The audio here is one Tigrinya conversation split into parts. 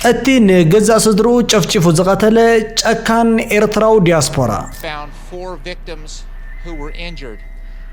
እቲ ንገዛእ ስድርኡ ጨፍጪፉ ዝቐተለ ጨካን ኤርትራዊ ዲያስፖራ።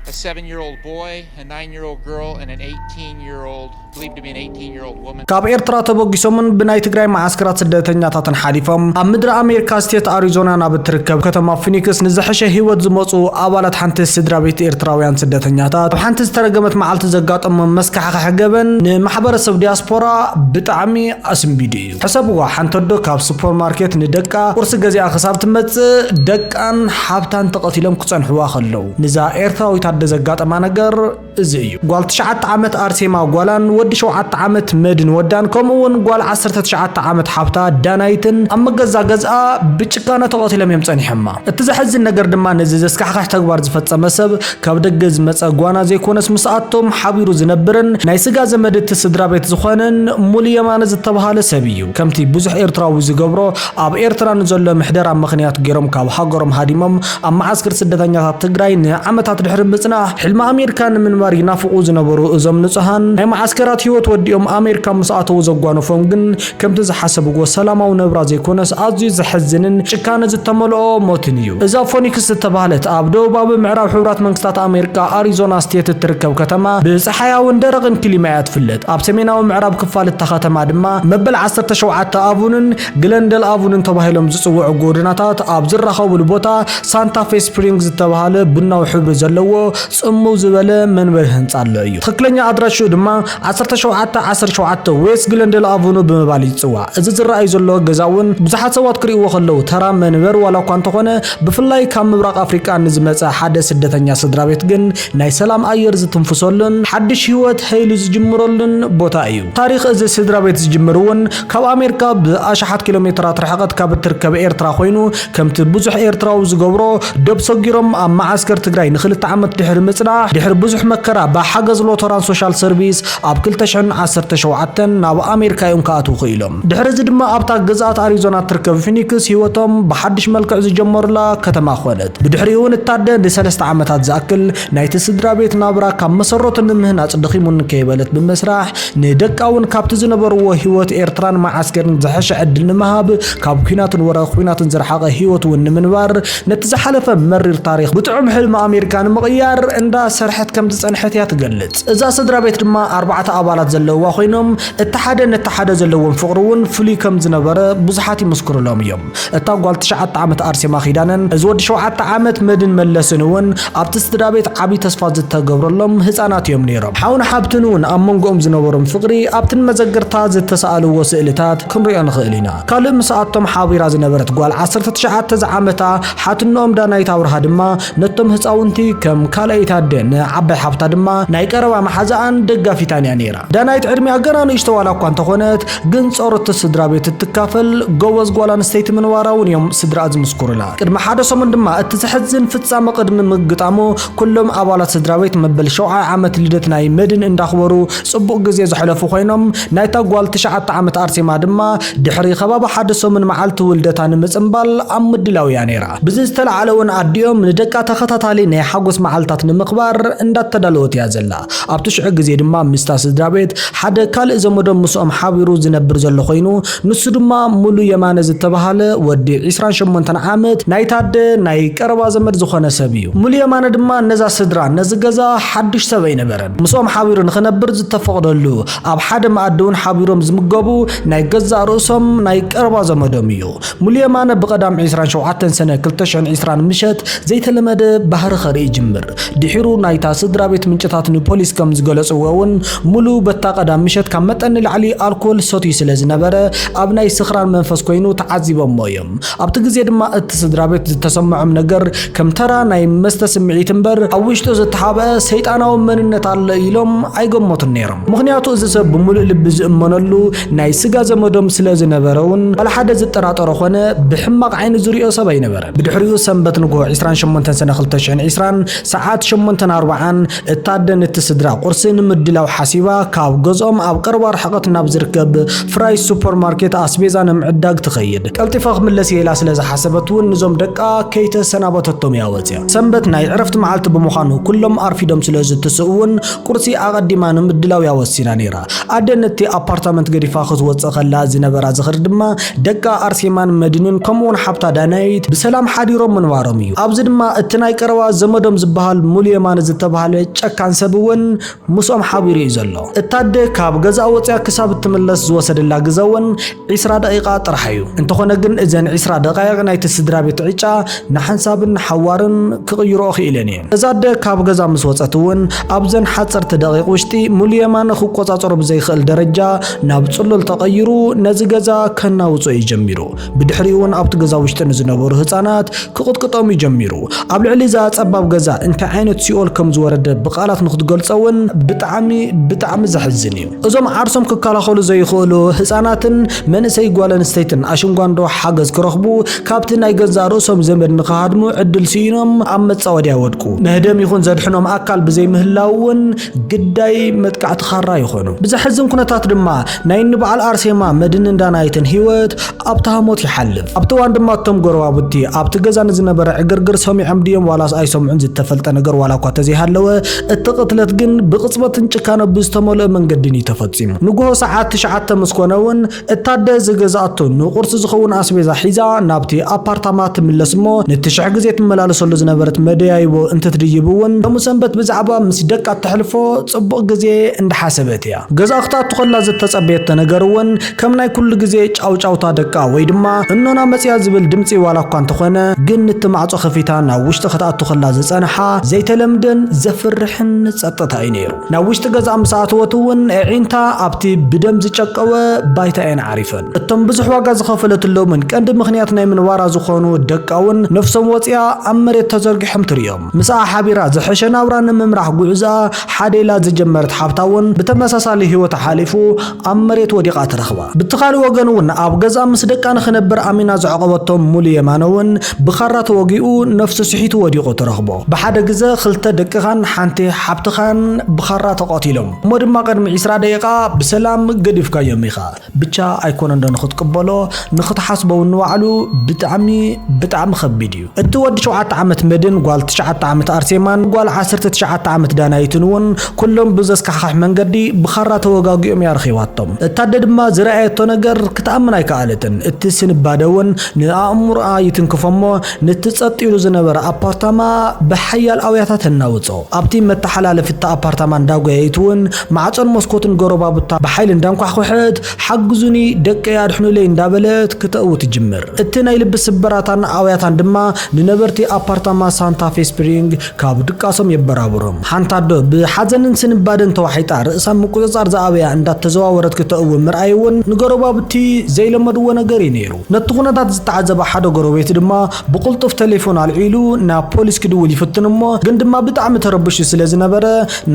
a seven year old boy, a nine year old girl, and an 18 year old, believed to be an 18 year old woman. ካብ ኤርትራ ተበጊሶምን ብናይ ትግራይ መዓስከራት ስደተኛታትን ሓሊፎም ኣብ ምድሪ ኣሜሪካ ስቴት ኣሪዞና ናብ እትርከብ ከተማ ፊኒክስ ንዝሐሸ ህይወት ዝመፁ ኣባላት ሓንቲ ስድራ ቤት ኤርትራውያን ስደተኛታት ኣብ ሓንቲ ዝተረገመት መዓልቲ ዘጋጠሞም መስካሕኻ ሕገበን ንማሕበረሰብ ዲያስፖራ ብጣዕሚ ኣስንቢዱ እዩ ሕሰብዋ ሓንቲ ኣዶ ካብ ሱፐር ማርኬት ንደቃ ቁርሲ ገዚኣ ክሳብ ትመጽእ ደቃን ሓብታን ተቀቲሎም ክጸንሕዋ ከለው ንዛ ኤርትራዊት ኣደ ዘጋጠማ ነገር እዚ እዩ ጓል ትሽዓተ ዓመት ኣርሴማ ጓላን ወዲ ሸውዓተ ዓመት መድን ወዳን ከምኡ ውን ጓል ዓሰርተ ትሽዓተ ዓመት ሓብታ ዳናይትን ኣብ መገዛ ገዝኣ ብጭካነ ተቀቲሎም እዮም ጸኒሖማ እቲ ዘሕዝን ነገር ድማ ነዚ ዘስካሕክሕ ተግባር ዝፈጸመ ሰብ ካብ ደገ ዝመጸ ጓና ዘይኮነስ ምስ ኣቶም ሓቢሩ ዝነብርን ናይ ስጋ ዘመድ እቲ ስድራ ቤት ዝኾነን ሙሉ የማነ ዝተብሃለ ሰብ እዩ። ከምቲ ብዙሕ ኤርትራዊ ዝገብሮ ኣብ ኤርትራ ንዘሎ ምሕደራ ምኽንያት ጌሮም ካብ ሃገሮም ሃዲሞም ኣብ መዓስክር ስደተኛታት ትግራይ ንዓመታት ድሕሪ ምጽናሕ ሕልሚ ኣሜርካ ንምንባር ይናፍቁ ዝነበሩ እዞም ንጹሃን ናይ መዓስከራት ሂወት ወዲኦም ኣሜርካ ምስ ኣተዉ ዘጓነፎም ግን ከምቲ ዝሓሰብዎ ሰላማዊ ነብራ ዘይኮነስ ኣዝዩ ዘሕዝንን ጭካነ ዝተመልኦ ሞትን እዩ። እዛ ፎኒክስ ዝተባህለት ኣብ ደቡባዊ ምዕራብ ሕቡራት መንግስታት ኣሜሪካ ኣሪዞና ስቴት እትርከብ ከተማ ብጸሓያውን ደረቕን ክሊማ እያ ትፍለጥ። ኣብ ሰሜናዊ ምዕራብ ክፋል እታ ከተማ ድማ መበል ዓሰርተ ሸውዓተ ኣቭኑን ግለንደል ኣቭኑን ተባሂሎም ዝጽውዑ ጎደናታት ኣብ ዝራኸቡሉ ቦታ ሳንታ ፌ ስፕሪንግ ዝተባህለ ቡናዊ ሕብሪ ዘለዎ ጽምው ዝበለ መንበሪ ህንጻ ኣሎ እዩ። ትኽክለኛ ኣድራሽኡ ድማ ዓሰርተ ሸውዓተ ዓሰርተ ሸውዓተ ዌስት ግለንደል ኣቨኑ ብምባል ይጽዋዕ። እዚ ዝረኣይ ዘሎ ገዛ'ውን ብዙሓት ሰባት ክርእይዎ ከለዉ ተራ መንበር ዋላኳ እንተኾነ ብፍላይ ካብ ምብራቕ ኣፍሪቃ ንዝመጸ ሓደ ስደተኛ ስድራቤት ግን ናይ ሰላም ኣየር ዝትንፍሰሉን ሓድሽ ህይወት ሀይሉ ዝጅምረሉን ቦታ እዩ። ታሪኽ እዚ ስድራቤት ዝጅምር'ውን ካብ ኣሜርካ ብኣሽሓት ኪሎሜተራት ርሕቐት ካብ እትርከብ ኤርትራ ኮይኑ፣ ከምቲ ብዙሕ ኤርትራዊ ዝገብሮ ዶብ ሰጊሮም ኣብ መዓስከር ትግራይ ንክልተ ዓመት ድሕሪ ምጽናሕ ድሕሪ ብዙሕ መከራ ብሓገዝ ሎተራን ሶሻል ሰርቪስ ኣብ ክልተ ሽሕን ዓሰርተ ሸውዓተን ናብ ኣሜሪካ እዮም ክኣትዉ ክኢሎም። ድሕሪ እዚ ድማ ኣብታ ግዝኣት ኣሪዞና እትርከብ ፊኒክስ ህይወቶም ብሓድሽ መልክዕ ዝጀመሩላ ከተማ ኮነት። ብድሕሪኡ'ውን እታደ ንሰለስተ ዓመታት ዝኣክል ናይቲ ስድራቤት ናብራ ካብ መሰረቱ ንምህናጽ ደኺሙኒ ከይበለት ብመስርሕ ንደቃ እውን ካብቲ ዝነበርዎ ህይወት ኤርትራን መዓስከርን ዝሐሸ ዕድል ንምሃብ ካብ ኲናትን ወረ ኲናትን ዝረሓቐ ህይወት እውን ንምንባር ነቲ ዝሓለፈ መሪር ታሪኽ ብጥዑም ሕልሚ ኣሜሪካ ንምቕያር እንዳ ሰርሐት ከም ዝጸንሐት እያ ትገልጽ። እዛ ስድራ ቤት ድማ ኣርባዕተ ኣባላት ዘለውዋ ኮይኖም እቲ ሓደ ነቲ ሓደ ዘለዎም ፍቕሪ እውን ፍሉይ ከም ዝነበረ ብዙሓት ይምስክሩሎም እዮም። እታ ጓል ትሽዓተ ዓመት ኣርሴማ ኪዳነን እዚ ወዲ ሸውዓተ ዓመት መድን መለስን እውን ኣብቲ ስድራቤት ዓቢ ተስፋ ዝተገብረሎም ህጻናት እዮም ነይሮም። ሓውን ሓብትን እውን ኣብ መንጎኦም ዝነበሮም ፍቕሪ ኣብቲ ንመዘግርታ ዝተሳእልዎ ስእልታት ክንሪኦ ንኽእል ኢና። ካልእ ምስኣቶም ሓቢራ ዝነበረት ጓል ዓሰርተ ትሽዓተ ዝዓመታ ሓትንኦም ዳናይት ኣብርሃ ድማ ነቶም ህጻውንቲ ከም ካልኣይቲ ኣደ ን ዓባይ ሓብታ ድማ ናይ ቀረባ መሓዛኣን ደጋፊታን እያ ነይራ። ዳናይት ዕድሚኣ ገና ንእሽቶ ዋላ እኳ እንተኾነት ግን ጾር እቲ ስድራ ቤት እትካፈል ጎበዝ ጓል ኣንስተይቲ ምንባራ እውን እዮም ስድራኣ ዝምስኩሩላ። ቅድሚ ሓደ ሰሙን ድማ እቲ ዘሕዝን ፍጻመ ቅድሚ ምግጣሙ ኩሎም ኣባላት ስድራ ቤት መበል ሸውዓይ ዓመት ልደት ናይ መድን እንዳኽበሩ ጽቡቕ ግዜ ዘሕለፉ ኮይኖም ናይታ ጓል ትሽዓተ ዓመት ኣርሴማ ድማ ድሕሪ ከባቢ ሓደ ሰሙን መዓልቲ ውልደታ ንምጽንባል ኣብ ምድላው እያ ነይራ። ብዚ ዝተላዕለ እውን ኣዲኦም ንደቃ ተኸታታሊ ናይ ሓጎስ መዓልታት ንምኽባር እንዳተዳለወት እያ ዘላ። ኣብቲ ሽዑ ግዜ ድማ ምስታ ስድራቤት ሓደ ካልእ ዘመዶም ምስኦም ሓቢሩ ዝነብር ዘሎ ኮይኑ ንሱ ድማ ሙሉ የማነ ዝተባህለ ወዲ ዕስራን ሸሞንተን ዓመት ናይታ ኣደ ናይ ቀረባ ዘመድ ዝኾነ ሰብ እዩ። ሙሉ የማነ ድማ ነዛ ስድራ ነዚ ገዛ ሓዱሽ ሰብ ኣይነበረን ምስኦም ሓቢሩ ንኽነብር ዝተፈቕደሉ ኣብ ሓደ መኣዲ ውን ሓቢሮም ዝምገቡ ናይ ገዛእ ርእሶም ናይ ቀረባ ዘመዶም እዩ። ሙሉ የማነ ብቀዳም ዕስራን ሸውዓተን ሰነ ክልተ ሽሕን ዕስራን ምሸት ዘይተለመደ ባህሪ ከርኢ ይጅምር። ድሒሩ ናይታ ስድራቤት ምንጭታት ንፖሊስ ከም ዝገለጽዎ እውን ሙሉ በታ ቀዳም ምሸት ካብ መጠን ንላዕሊ ኣልኮል ሰትዩ ስለ ዝነበረ ኣብ ናይ ስኽራን መንፈስ ኮይኑ ተዓዚቦሞ እዮም። ኣብቲ ግዜ ድማ እቲ ስድራቤት ዝተሰመዖም ነገር ከም ተራ ናይ መስተ ስምዒት እምበር፣ ኣብ ውሽጡ ዝተሓብኣ ሰይጣናዊ መንነት ኣሎ ኢሎም ኣይገመቱን ነይሮም። ምኽንያቱ እዚ ሰብ ብሙሉእ ልቢ ዝእመነሉ ናይ ስጋ ዘመዶም ስለ ዝነበረ እውን ዋላ ሓደ ዝጠራጠሮ ኮነ ብሕማቕ ዓይኒ ዝሪኦ ሰብ ኣይነበረን። ብድሕሪኡ ሰንበት ንግሆ ዕስራን ሸሞንተን ሰነ ክልተ ሽሕን ዕስራን ሰዓት ሸሞንተን ኣርብዓን እታ ኣደ ነቲ ስድራ ቁርሲ ንምድላው ሓሲባ ካብ ገዝኦም ኣብ ቀረባ ርሕቐት ናብ ዝርከብ ፍራይስ ሱፐር ማርኬት ኣስቤዛ ንምዕዳግ ትኸይድ። ቀልጢፈ ክምለስ እየ ኢላ ስለ ዝሓሰበት እውን ንዞም ደቃ ከይተሰናበተቶም እያ ወፂኣ። ሰንበት ናይ ዕረፍቲ መዓልቲ ብምዃኑ ኩሎም ኣርፊዶም ስለ ዝትስኡ እውን ቁርሲ ኣቐዲማ ንምድላው እያ ወሲና ነይራ። ኣደ ነቲ ኣፓርታመንት ገዲፋ ክትወጽእ ከላ ዝነበራ ዝኽሪ ድማ ደቃ ኣርሴማን መድንን ከምኡውን ሓብታ ዳናይት ብሰላም ሓዲሮም ምንባሮም እዩ። ኣብዚ ድማ እቲ ናይ ቀረባ ዘመዶም ዝበሃል ሙሉ የማነ ዝተባህለ ጨካን ሰብ እውን ምስኦም ሓቢሩ እዩ ዘሎ። እታ ኣደ ካብ ገዝኣ ወጺኣ ክሳብ እትምለስ ዝወሰደላ ግዘ እውን ዒስራ ደቒቓ ጥራሕ እዩ። እንተኾነ ግን እዘን ዒስራ ደቓይቕ ናይቲ ስድራቤት ዕጫ ንሓንሳብን ንሓዋርን ክቕይርኦ ክኢለን እየን። እዛ ኣደ ካብ ገዛ ምስ ወጸት እውን ኣብዘን ሓጸርቲ ደቒቕ ውሽጢ ሙሉ የማነ ክቆጻጸሮ ብዘይክእል ደረጃ ናብ ጽሉል ተቐይሩ ነዚ ገዛ ከናውጾ እዩ ጀሚሩ። ብድሕሪኡ እውን ኣብቲ ገዛ ውሽጢ ንዝነበሩ ህጻናት ክቕጥቅጦም እዩ ጀሚሩ። ኣብ ልዕሊ እዛ ጸባብ ገዛ እንታይ ዓይነት ሲኦል ከምዝወረደ ብቃላት ንክትገልጾ እውን ብጣዕሚ ብጣዕሚ ዘሕዝን እዩ። እዞም ዓርሶም ክከላኸሉ ዘይኽእሉ ህጻናትን መንእሰይ ጓል ኣንስተይትን ኣሽንጓንዶ ሓገዝ ክረኽቡ ካብቲ ናይ ገዛእ ርእሶም ዘመድ ንኽሃድሙ ዕድል ስኢኖም ኣብ መጻወድያ ይወድቁ። መህደም ይኹን ዘድሕኖም ኣካል ብዘይምህላዉ እውን ግዳይ መጥቃዕቲ ካራ ይኾኑ። ብዘሕዝን ኩነታት ድማ ናይ እኒ በዓል ኣርሴማ፣ መድንን ዳናይትን ህይወት ኣብቲ ሃሞት ይሓልፍ። ኣብቲ እዋን ድማ እቶም ጎረባብቲ ኣብቲ ገዛ ንዝነበረ ዕግርግር ሰሚዖም ድዮም ዋላስ ኣይሰምዑን ዝተፈልጠ ነገር ዋላ እኳ ተዘይሃለወ፣ እቲ ቅትለት ግን ብቕጽበትን ጭካነ ብዝተመልኦ መንገድን እዩ ተፈጺሙ። ንግሆ ሰዓት ትሽዓተ ምስ ኮነ እውን እታ ኣደ ዝገዝኣቶ ንቑርሲ ዝኸውን ኣስቤዛ ሒዛ ናብቲ ኣፓርታማ ትምለስ እሞ ነቲ ሽሕ ግዜ ትመላለሰሉ ዝነበረት መደያይቦ እንትትድይብ እውን ሎሚ ሰንበት ብዛዕባ ምስ ደቃ እተሕልፎ ጽቡቕ ግዜ እንዳሓሰበት እያ። ገዝኣ ክትኣቱ ከላ ዝተጸበየቶ ነገር እውን ከም ናይ ኩሉ ግዜ ጫውጫውታ ደቃ ወይ ድማ እኖና መጽያ ዝብል ድምጺ ዋላ እኳ እንተኾነ ግን ንቲ ማዕጾ ከፊታ ናብ ውሽጢ ክትኣቱ ከላ ዝጸንሓ ዘይተለምደን ዘፍርሕን ጸጥታ እዩ ነይሩ። ናብ ውሽጢ ገዛ ምስ ኣተወት እውን ኣዒንታ ኣብቲ ብደም ዝጨቀወ ባይታ እየን ዓሪፈን። እቶም ብዙሕ ዋጋ ዝኸፈለትሎምን ቀንዲ ምኽንያት ናይ ምንባራ ዝኾኑ ደቃ እውን ነፍሶም ወጽያ ኣብ መሬት ተዘርጊሖም ትርእዮም። ምስኣ ሓቢራ ዝሐሸ ናብራ ንምምራሕ ጉዕዝኣ ሓደ ኢላ ዝጀመረት ሓብታ እውን ብተመሳሳሊ ህይወታ ሓሊፉ ኣብ መሬት ወዲቓ ተረኽባ። ብቲ ካልእ ወገን እውን ኣብ ገዝኣ ምስ ደቃ ንኽነብር ኣሚና ዘዕቖበቶ ሙሉ የማነ እውን ብኻራ ተወጊኡ ነፍሱ ስሒቱ ወዲቑ ትረኽቦ። ብሓደ ግዘ ኽልተ ደቅኻን ሓንቲ ሓብትኻን ብኻራ ተቐቲሎም። እሞ ድማ ቅድሚ ዕስራ ደቂቓ ብሰላም ገዲፍካዮም ኢኻ። ብቻ ኣይኮነንዶ ንኽትቅበሎ ንኽትሓስቦ እውን ንባዕሉ ብጣዕሚ ብጣዕሚ ኸቢድ እዩ። እቲ ወዲ ሸውዓተ ዓመት መድን፣ ጓል ትሽዓተ ዓመት ኣርሴማን ጓል ዓሰርተ ትሽዓተ ዓመት ዳናይትን እውን ኩሎም ብዘስካሕኽሕ መንገዲ ብኻራ ተወጋጊኦም እያ ረኺባቶም። እታ ኣደ ድማ ዝረኣየቶ ነገር ክትኣምን ኣይከኣለትን። እቲ ስንባደ እውን ንኣእምሮኣ ይትንክፎ እሞ ነቲ ጸጥ ኢሉ ዝነበረ ኣፓርታማ ብሓያል ኣውያታ ተናውጾ። ኣብቲ መተሓላለፊ እታ ኣፓርታማ እንዳጎየየት እውን ማዕጾን መስኮትን ጎረባብታ ብሓይሊ እንዳንኳሕኮሐት ሓግዙኒ ደቀይ ኣድሕኑለይ እንዳበለት ክተእዊ ትጅምር። እቲ ናይ ልቢ ስብራታን ኣውያታን ድማ ንነበርቲ ኣፓርታማ ሳንታ ፌ ስፕሪንግ ካብ ድቃሶም የበራብሮም። ሓንቲ ኣዶ ብሓዘንን ስንባደን ተዋሒጣ ርእሳ ምቁጽጻር ዝኣበያ እንዳተዘዋወረት ክተእዊ ምርኣይ'ውን ንጎረባብቲ ዘይለመድዎ ነገር'ዩ ነይሩ። ነቲ ኩነታት ዝተዓዘበ ሓደ ጎረቤት ድማ ብቕልጡፍ ተሌፎን ኣልዒሉ ናብ ፖሊስ ክድውል ይፍትን እሞ ግን ድማ ብጣዕሚ ተረብሹ ስለ ዝነበረ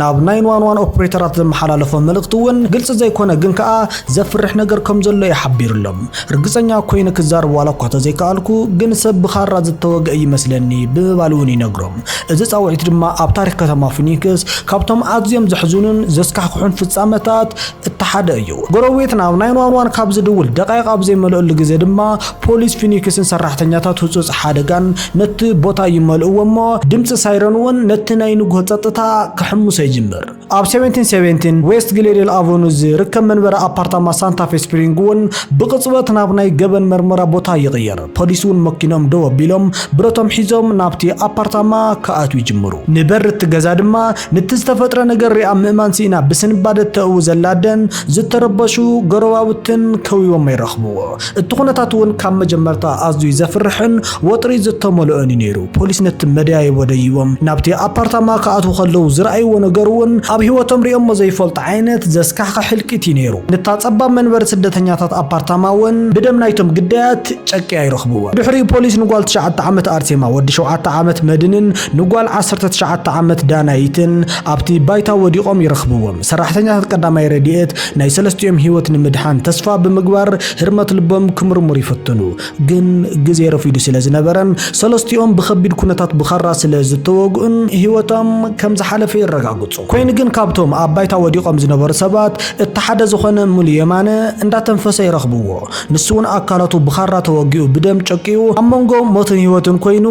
ናብ ናይን ዋን ዋን ኦፕሬተራት ዘመሓላለፎ መልእኽቲ እውን ግልፂ ዘይኮነ ግን ከዓ ዘፍርሕ ነገር ከም ዘሎ እዩ ሓቢርሎም ርግፀኛ ኮይነ ክዛረብ ዋላ እኳ ተዘይከኣልኩ ግን ሰብ ብኻራ ዝተወግአ እዩ መስለኒ ብምባል እውን ይነግሮም እዚ ፃውዒት ድማ ኣብ ታሪኽ ከተማ ፊኒክስ ካብቶም ኣዝዮም ዘሕዝኑን ዘስካሕክሑን ፍፃመታት እቲ ሓደ እዩ። ጎረቤትና ኣብ ናይን ዋን ዋን ካብ ዝድውል ደቓይቕ ኣብ ዘይመልኦሉ ግዜ ድማ ፖሊስ ፊኒክስን ሰራሕተኛታት ህጹጽ ሓደጋን ነቲ ቦታ ይመልእዎ እሞ ድምጺ ሳይረን እውን ነቲ ናይ ንግሆ ጸጥታ ክሕምሶ ይጅምር። ኣብ ሰቨንቲን ሰቨንቲን ዌስት ግሌዴል ኣቨኑ ዝርከብ መንበሪ ኣፓርታማ ሳንታ ፌ ስፕሪንግ እውን ብቕጽበት ናብ ናይ ገበን መርመራ ቦታ ይቕየር። ፖሊስ እውን መኪኖም ደው ኣቢሎም ብረቶም ሒዞም ናብቲ ኣፓርታማ ክኣትው ይጅምሩ። ንበሪ እቲ ገዛ ድማ ንቲ ዝተፈጥረ ነገር ሪኣ ምእማን ስኢና ብስንባደ ተእዊ ዘላ ኣደን ዝተረበሹ ጎረባብትን ከቢቦሞ ይረኽብዎ። እቲ ኩነታት እውን ካብ መጀመርታ ኣዝዩ ዘፍርሕን ወጥሪ ዝተመልኦን እዩ ነይሩ። ፖሊስ ነቲ መደያይቦ ደይቦም ናብቲ ኣፓርታማ ክኣትው ከለው ዝረኣይዎ ነገር እውን ኣብ ህይወቶም ሪኦሞ ዘይፈልጡ ዓይነት ዘስካሕኽሕ ህልቂት እዩ ነይሩ። ነታ ጸባብ መንበሪ ስደተኛታት ኣፓርታማ እውን ብደም ናይቶም ግዳያት ጨቅያ ይረኽብዎ። ድሕሪኡ ፖሊስ ንጓል ትሽዓተ ዓመት ኣርሴማ፣ ወዲ ሸውዓተ ዓመት መድንን ንጓል ዓሰርተ ትሽዓተ ዓመት ዳናይትን ኣብቲ ባይታ ወዲቖም ይረኽብዎም። ሰራሕተኛታት ቀዳማይ ረድኤት ናይ ሰለስቲኦም ህይወት ንምድሓን ተስፋ ብምግባር ህርመት ልቦም ክምርምሩ ይፍትኑ። ግን ግዜ ረፊዱ ስለ ዝነበረን ሰለስቲኦም ብኸቢድ ኩነታት ብኻራ ስለ ዝተወግኡን ህይወቶም ከም ዝሓለፈ የረጋግጹ። ኮይኑ ግን ካብቶም ኣብ ባይታ ወዲቖም ዝነበሩ ሰባት እቲ ሓደ ዝኾነ ሙሉ የማነ እንዳተንፈሰ ይረኽብዎ። ንሱ እውን ኣካላቱ ብኻራ ተወጊኡ ብደም ጨቂዩ ኣብ መንጎ ሞትን ህይወትን ኮይኑ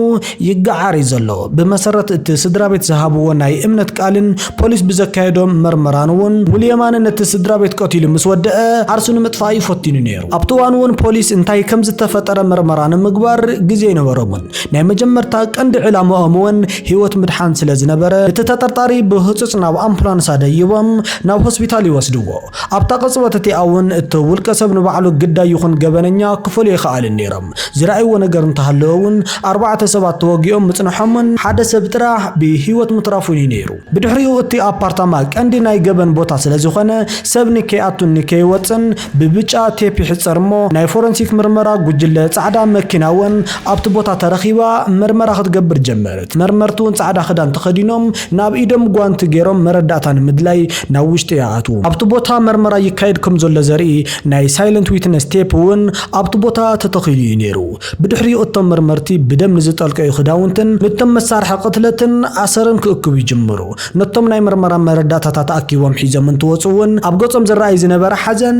ይገዓር እዩ ዘሎ። ብመሰረት እቲ ስድራቤት ዝሃብዎ ናይ እምነት ቃልን ፖሊስ ብዘካየዶ መርመራን እውን ሙሉየማነ ነቲ ስድራቤት ቀቲሉ ምስ ወደኣ ዓርሱ ንምጥፋእ እዩ ፈቲኑ ነይሩ። ኣብቲ እዋን እውን ፖሊስ እንታይ ከምዝተፈጠረ መርመራ ንምግባር ግዜ ኣይነበሮምን። ናይ መጀመርታ ቀንዲ ዕላምኦም እውን ህይወት ምድሓን ስለዝነበረ እቲ ተጠርጣሪ ብህፁፅ ናብ ኣምፑላንስ ኣደይቦም ናብ ሆስፒታል ይወስድዎ። ኣብታ ቅጽበት እቲኣ እውን እቲ ውልቀሰብ ንባዕሉ ግዳይ ይኹን ገበነኛ ክፈልዩ ኣይኸኣሉን ነይሮም። ዝረኣይዎ ነገር እንተሃለወ እውን ኣርባዕተ ሰባት ተወጊኦም ምጽንሖምን ሓደ ሰብ ጥራሕ ብህይወት ምትራፉን እዩ ነይሩ። ብድሕሪኡ እቲ ኣፓርታማ ቀንዲ ናይ ገበን ቦታ ስለዝኾነ ሰብ ንከይኣቱን ንከይወጽእን ብብጫ ቴፕ ይሕጸር እሞ ናይ ፎረንሲክ ምርመራ ጉጅለ ጻዕዳ መኪና እውን ኣብቲ ቦታ ተረኺባ መርመራ ክትገብር ጀመረት። መርመርቲ እውን ጻዕዳ ክዳን ተኸዲኖም ናብ ኢዶም ጓንቲ ገይሮም መረዳእታ ንምድላይ ናብ ውሽጢ ይኣትዉ። ኣብቲ ቦታ መርመራ ይካየድ ከም ዘሎ ዘርኢ ናይ ሳይለንት ዊትነስ ቴፕ እውን ኣብቲ ቦታ ተተኺሉ እዩ ነይሩ። ብድሕሪኡ እቶም መርመርቲ ብደም ንዝጠልቀዩ ክዳውንትን ንቶም መሳርሒ ቅትለትን ኣሰርን ክእክቡ ይጅምሩ። ነቶም ናይ መርመራ መረዳእታታት ኣኪቦም ሒዞም እንትወጹ እውን ኣብ ገጾም ዝረኣይ ዝነበረ ሓዘን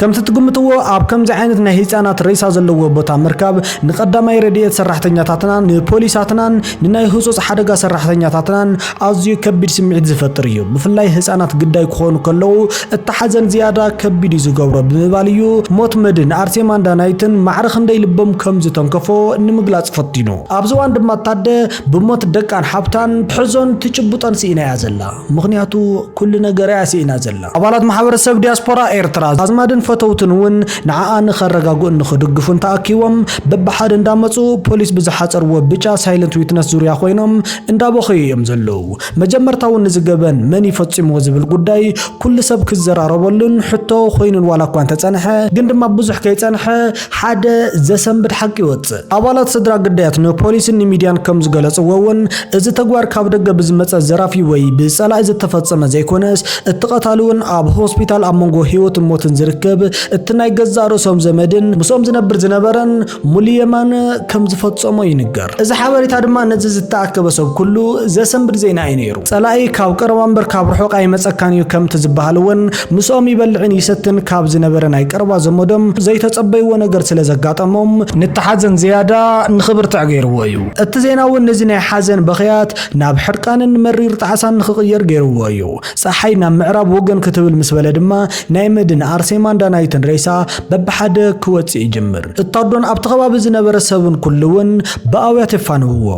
ከምቲ ትግምትዎ ኣብ ከምዚ ዓይነት ናይ ህፃናት ሬሳ ዘለዎ ቦታ ምርካብ ንቀዳማይ ረድኤት ሰራሕተኛታትናን ንፖሊሳትናን ንናይ ህፁፅ ሓደጋ ሰራሕተኛታትናን ኣዝዩ ከቢድ ስምዒት ዝፈጥር እዩ። ብፍላይ ህፃናት ግዳይ ክኾኑ ከለዉ እቲ ሓዘን ዝያዳ ከቢድ እዩ ዝገብሮ ብምባል እዩ ሞት መድን ኣርሴማን ዳናይትን ማዕረ ክንደይ ልቦም ከም ዝተንከፎ ንምግላፅ ፈቲኑ። ኣብዚ እዋን ድማ ታደ ብሞት ደቃን ሓብታን ትሕዞን ትጭብጦን ስኢና እያ ዘላ። ምኽንያቱ ኩሉ ነገራ እያ ስኢና ዘላ። ኣባላት ማሕበረሰብ ዲያስፖራ ኤርትራ፣ ኣዝማድን ፈተውትን እውን ንዓኣ ንኸረጋግኡን ንኽድግፉን ተኣኪቦም በብሓደ እንዳመጹ ፖሊስ ብዝሓጸርዎ ብጫ ሳይለንት ዊትነስ ዙርያ ኮይኖም እንዳበኸዩ እዮም ዘለዉ። መጀመርታ እውን እዚ ገበን መን እዩ ፈጺምዎ ዝብል ጉዳይ ኩሉ ሰብ ክዘራረበሉን ሕቶ ኮይኑን ዋላ እኳ እንተጸንሐ፣ ግን ድማ ብዙሕ ከይጸንሐ፣ ሓደ ዘሰንብድ ሓቂ ይወጽእ። ኣባላት ስድራ ግዳያት ንፖሊስን ንሚድያን ከም ዝገለጽዎ እውን እዚ ተግባር ካብ ደገ ብዝመጸ ዘራፊ ወይ ብጸላኢ ዝተፈጸመ ዘይኮነስ እቲ ቀታሊ እውን ኣብ ሆስፒታል ኣብ መንጎ ህይወትን ሞትን ዝርከብ እቲ ናይ ገዛእ ርእሶም ዘመድን ምስኦም ዝነብር ዝነበረን ሙሉ የማነ ከም ዝፈጸሞ ይንገር። እዚ ሓበሬታ ድማ ነዚ ዝተኣከበ ሰብ ኩሉ ዘሰንብድ ዜና እዩ ነይሩ። ጸላኢ ካብ ቀረባ እምበር ካብ ርሑቕ ኣይመጸካን እዩ ከምቲ ዝበሃል እውን ምስኦም ይበልዕን ይሰትን ካብ ዝነበረ ናይ ቀረባ ዘመዶም ዘይተጸበይዎ ነገር ስለ ዘጋጠሞም፣ ንቲ ሓዘን ዝያዳ ንኽብርትዕ ገይርዎ እዩ። እቲ ዜና እውን ነዚ ናይ ሓዘን በኽያት ናብ ሕርቃንን መሪር ጣዕሳን ንኽቕየር ገይርዎ እዩ። ጸሓይ ናብ ምዕራብ ወገን ክትብል ምስ በለ ድማ ናይ መድን፣ ኣርሴማን ዳናይትን ሬሳ በብሓደ ክወጽእ ይጅምር። እታ ኣዶን ኣብቲ ከባቢ ዝነበረ ሰብን ኩሉ እውን ብኣውያት የፋንውዎ።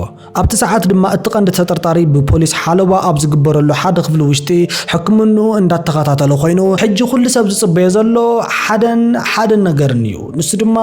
ኣብቲ ሰዓት ድማ እቲ ቀንዲ ተጠርጣሪ ብፖሊስ ሓለዋ ኣብ ዝግበረሉ ሓደ ክፍሊ ውሽጢ ሕክምንኡ እንዳተኸታተለ ኮይኑ ሕጂ ኩሉ ሰብ ዝጽበዮ ዘሎ ሓደን ሓደን ነገርን እዩ ንሱ ድማ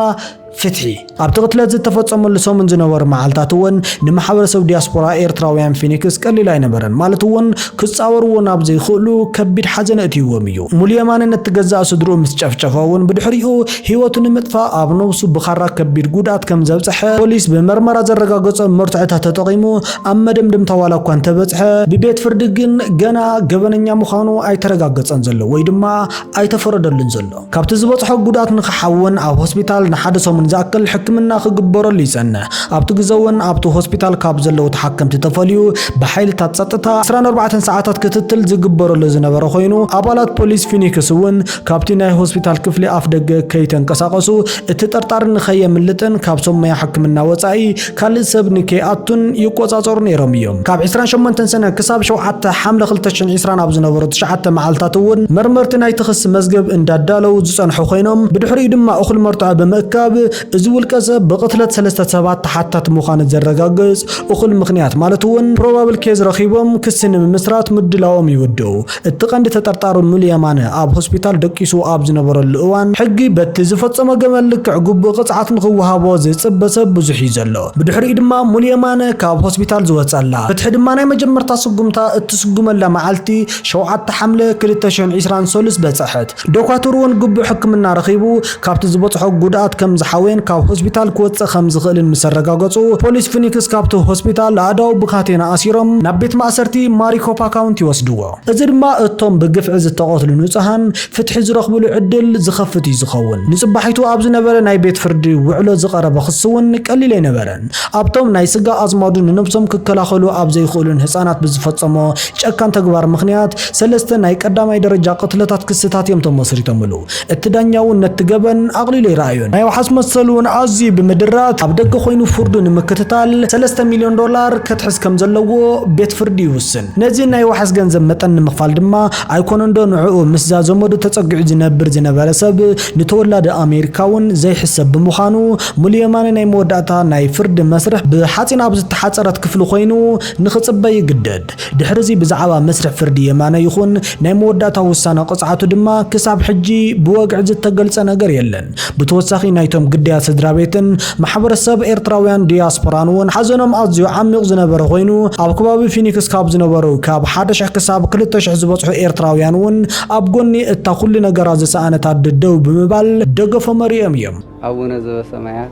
ፍትሒ ኣብቲ ቅትለት ዝተፈጸመሉ ሰሙን ዝነበሩ መዓልታት እውን ንማሕበረሰብ ዲያስፖራ ኤርትራውያን ፊኒክስ ቀሊል ኣይነበረን ማለት እውን ክጻወርዎ ናብ ዘይክእሉ ከቢድ ሓዘን እእትይዎም እዩ ሙሉ የማነ ነቲ ገዛእ ስድርኡ ምስ ጨፍጨፈ እውን ብድሕሪኡ ህይወቱ ንምጥፋእ ኣብ ነብሱ ብኻራ ከቢድ ጉድኣት ከም ዘብፀሐ ፖሊስ ብመርመራ ዘረጋገፆም መርትዖታት ተጠቒሙ ኣብ መደምደምታ ዋላ እኳ እንተበፅሐ፣ ብቤት ፍርዲ ግን ገና ገበነኛ ምዃኑ ኣይተረጋገፀን ዘሎ ወይ ድማ ኣይተፈረደሉን ዘሎ። ካብቲ ዝበፅሖ ጉድኣት ንክሓውን ኣብ ሆስፒታል ንሓደ ሰሙን ዝኣክል ሕክምና ክግበረሉ ይፀንሕ። ኣብቲ ግዘ እውን ኣብቲ ሆስፒታል ካብ ዘለዉ ተሓከምቲ ተፈልዩ ብሓይልታት ፀጥታ ዕስራን ኣርባዕተን ሰዓታት ክትትል ዝግበረሉ ዝነበረ ኮይኑ ኣባላት ፖሊስ ፊኒክስ እውን ካብቲ ናይ ሆስፒታል ክፍሊ ኣፍደገ ከይተንቀሳቐሱ፣ እቲ ጠርጣሪ ንኸየምልጥን ካብ ሰብ ሞያ ሕክምና ወጻኢ ካልእ ሰብ ንከይኣቱን ይቆጻጸሩ ነይሮም እዮም። ካብ ዕስራን ሸሞንተን ሰነ ክሳብ ሸውዓተ ሓምለ ክልተ ሽሕን ዕስራን ኣብ ዝነበሩ ትሽዓተ መዓልታት እውን መርመርቲ ናይቲ ክሲ መዝገብ እንዳዳለዉ ዝጸንሑ ኮይኖም፣ ብድሕሪኡ ድማ እኹል መርትዖ ብምእካብ እዚ ውልቀሰብ ብቕትለት ሰለስተ ሰባት ተሓታቲ ምዃኑ ዘረጋግጽ እኹል ምኽንያት ማለት እውን Probable Case ረኺቦም ክሲ ንምምስራት ምድላዎም ይውድኡ። እቲ ቀንዲ ተጠርጣሪ ሙሉ የማነ ኣብ ሆስፒታል ደቂሱ ኣብ ዝነበረሉ እዋን፣ ሕጊ በቲ ዝፈጸሞ ገበን ልክዕ ግቡእ ቅጽዓት ንኽወሃቦ ዝጽበ ሰብ ብዙሕ'ዩ ዘሎ። ብድሕሪኡ ድማ ሙሉ የማነ ካብ ሆስፒታል ዝወጸላ፣ ፍትሒ ድማ ናይ መጀመርታ ስጉምታ እትስጉመላ መዓልቲ ሸውዓተ ሓምለ ክልተ ሽሕን ዒስራን ሰሉስ በጸሐት። ዶኳትር'ውን ግቡእ ሕክምና ረኺቡ ካብቲ ዝበጽሖ ጉድኣት ከም ዝሓወየን ካብ ሆስፒታል ክወጽእ ከም ዝኽእልን ምስ ኣረጋገጹ፣ ፖሊስ ፊኒክስ ካብቲ ሆስፒታል ኣእዳዉ ብካቴና ኣሲሮም ናብ ቤት ማእሰርቲ ማሪኮፓ ካውንቲ ይወስድዎ። እዚ ድማ እቶም ብግፍዒ ዝተቐትሉ ንጹሃን ፍትሒ ዝረኽብሉ ዕድል ዝኸፍት እዩ ዝኸውን። ንጽባሒቱ ኣብ ዝነበረ ናይ ቤት ፍርዲ ውዕሎ ዝቐረበ ክሲ'ውን ቀሊል ኣይነበረን። ኣብቶም ናይ ስጋ ኣዝማዱ ንነብሶም ክከላኸሉ ኣብ ዘይኽእሉን ህጻናት ብዝፈጸሞ ጨካን ተግባር ምኽንያት ሰለስተ ናይ ቀዳማይ ደረጃ ቅትለታት ክስታት እዮም ተመስሪቶምሉ። እቲ ዳኛ እውን ነቲ ገበን ኣቕሊሉ ኣይረኣዮን። ናይ ዋሕስ መሰሉ እውን ኣዝዩ ብምድራት ኣብ ደገ ኮይኑ ፍርዱ ንምክትታል ሰለስተ ሚልዮን ዶላር ከትሕዝ ከም ዘለዎ ቤት ፍርዲ ይውስን። ነዚ ናይ ዋሕስ ገንዘብ መጠን ንምኽፋል ድማ ኣይኮነንዶ ንዕኡ ምስዛ ዘመዱ ተጸጊዑ ዝነብር ዝነበረ ሰብ ንተወላዲ ኣሜሪካ እውን ዘይሕሰብ ብምዃኑ ሙሉ የማነ ናይ መወዳእታ ናይ ፍርዲ መስርሕ ብሓጺን ኣብ ዝተሓጸረት ክፍሊ ኮይኑ ንኽጽበ ይግደድ። ድሕሪ'ዚ ብዛዕባ መስርሕ ፍርዲ የማነ ይኹን ናይ መወዳእታ ውሳነ ቅጽዓቱ ድማ ክሳብ ሕጂ ብወግዒ ዝተገልጸ ነገር የለን። ብተወሳኺ ናይቶም ግዳያት ስድራቤትን ማሕበረሰብ ኤርትራውያን ዲያስፖራን እውን ሓዘኖም ኣዝዩ ዓሚቕ ዝነበረ ኮይኑ ኣብ ከባቢ ፊኒክስ ካብ ዝነበሩ ካብ ሓደ ሽሕ ክሳብ ክልተ ሽሕ ዝበጽሑ ኤርትራውያን እውን ኣብ ጎኒ እታ ኩሉ ነገራ ዝሰኣነት ኣደ ደው ብምባል ደገፎም ኣርእዮም እዮም። ኣቡነ ዘበሰማያት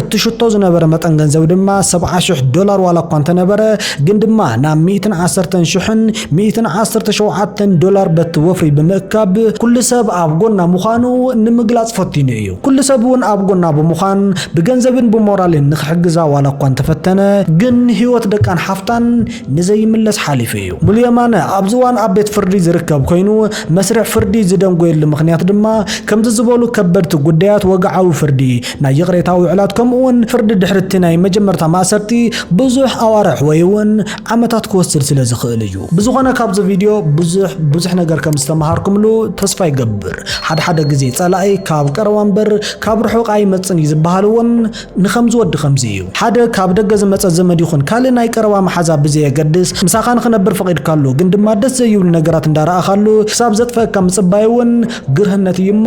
እትሽቶ ዝነበረ መጠን ገንዘብ ድማ ሰብዓ ሽሕ ዶላር ዋላ እኳ እንተነበረ ግን ድማ ናብ ሚእትን ዓሰርተን ሽሕን ሚእትን ዓሰርተ ሸውዓተን ዶላር በቲ ወፍሪ ብምእካብ ኩሉ ሰብ ኣብ ጎና ምዃኑ ንምግላጽ ፈቲኑ እዩ። ኩሉ ሰብ እውን ኣብ ጎና ብምዃን ብገንዘብን ብሞራልን ንኽሕግዛ ዋላ እኳ እንተፈተነ ግን ህይወት ደቃን ሓፍታን ንዘይምለስ ሓሊፉ እዩ። ሙሉ የማነ ኣብዚ እዋን ኣብ ቤት ፍርዲ ዝርከብ ኮይኑ መስርሕ ፍርዲ ዝደንጎየሉ ምኽንያት ድማ ከምዚ ዝበሉ ከበድቲ ጉዳያት ወግዓዊ ፍርዲ ናይ ይቕሬታ ውዕላት ከምኡውን ፍርዲ ድሕሪ እቲ ናይ መጀመርታ ማእሰርቲ ብዙሕ ኣዋርሕ ወይ እውን ዓመታት ክወስድ ስለ ዝኽእል እዩ። ብዝኾነ ካብዚ ቪድዮ ብዙሕ ብዙሕ ነገር ከም ዝተመሃርኩምሉ ተስፋ ይገብር። ሓደ ሓደ ግዜ ጸላኢ ካብ ቀረባ እምበር ካብ ርሑቕ ኣይመጽን እዩ ዝበሃል እውን ንኸምዚ ወዲ ከምዚ እዩ። ሓደ ካብ ደገ ዝመጸ ዘመድ ይኹን ካልእ ናይ ቀረባ መሓዛ ብዘየገድስ ምሳኻ ንኽነብር ፈቒድካሉ ግን ድማ ደስ ዘይብሉ ነገራት እንዳረኣኻሉ ክሳብ ዘጥፈኣካ ምጽባይ እውን ግርህነት እዩ እሞ